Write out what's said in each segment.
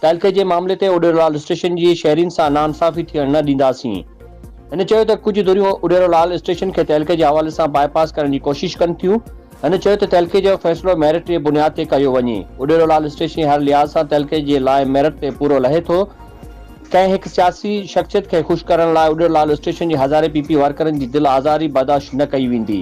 تعلقي جي معاملي تي اڏيرولال اسٽيشن جي شهرين سان ناانصافي ٿيڻ نه ڏينداسين. هن چيو ته ڪجهه ڌريون اڏيرولال اسٽيشن کي تعلقي جي حوالي سان باء پاس ڪرڻ جي ڪوشش ڪن ٿيون. هن چيو ته تعلقي جو فيصلو ميرٽ جي بنياد تي ڪيو وڃي. اڏيرولال اسٽيشن هر لحاظ سان تعلقي جي لاء ميرٽ تي پورو لهي ٿو. ڪنهن هڪ سياسي شخصيت کي خوش ڪرڻ لاء اڏيرولال اسٽيشن جي هزارين پي پي ورڪرن جي دل آزاري برداشت نه ڪئي ويندي.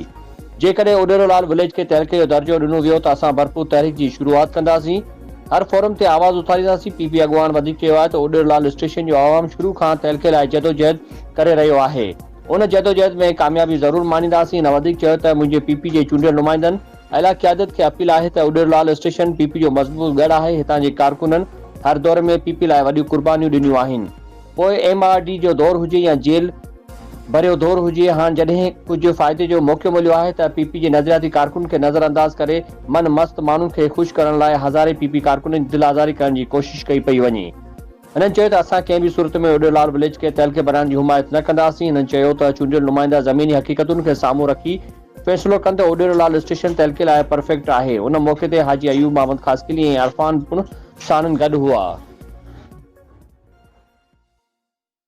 جيڪڏهن اڏيرو لال وليج کي تعلقي جو درجو ڏنو ويو ته اسان ڀرپور تحريڪ جي شروعات ڪنداسين، هر فورم تي آواز اٿارينداسين، پي پي اڳواڻ وڌيڪ چيو آهي ته اڏيرو لال اسٽيشن جو عوام شروع کان تعلقي لاء جدوجهد ڪري رهيو آهي، ان جدوجهد ۾ ڪاميابي ضرور ماڻينداسين، هن وڌيڪ چيو ته منهنجي پي پي جي چونڊيل نمائندن اعليٰ قيادت کي اپيل آهي ته Udero Lal station P P جو مضبوط ڳڙهه آهي، هتان جي ڪارڪنن هر دور ۾ پي پي لاء وڏيون قربانيون ڏنيون آهن. پوء ايم آر ڊي جو دور هجي يا جيل ڀريو دور هجي، هاڻ جڏهن ڪجهه فائدي جو موقعو مليو آهي ته پي پي جي نظرياتي ڪارڪنن کي نظر انداز ڪري من مست ماڻهن کي خوش ڪرڻ لاء هزارين پي پي ڪارڪنن جي دل آزاري ڪرڻ جي ڪوشش ڪئي پئي وڃي. هنن چيو ته اسان ڪنهن به صورت ۾ اڊيولار وليج کي تهلڪي بنائڻ جي حمايت نه ڪنداسين، هنن چيو ته چونڊيل نمائندا زميني حقيقتن کي سامهون رکي فيصلو ڪن ته اوڏيرو لال اسٽيشن تحلقي لاء پرفيڪٽ آهي. ان موقعي تي حاجي ايوب محمد خاصخيلي ۽ عرفان پڻ ساڻن گڏ هئا.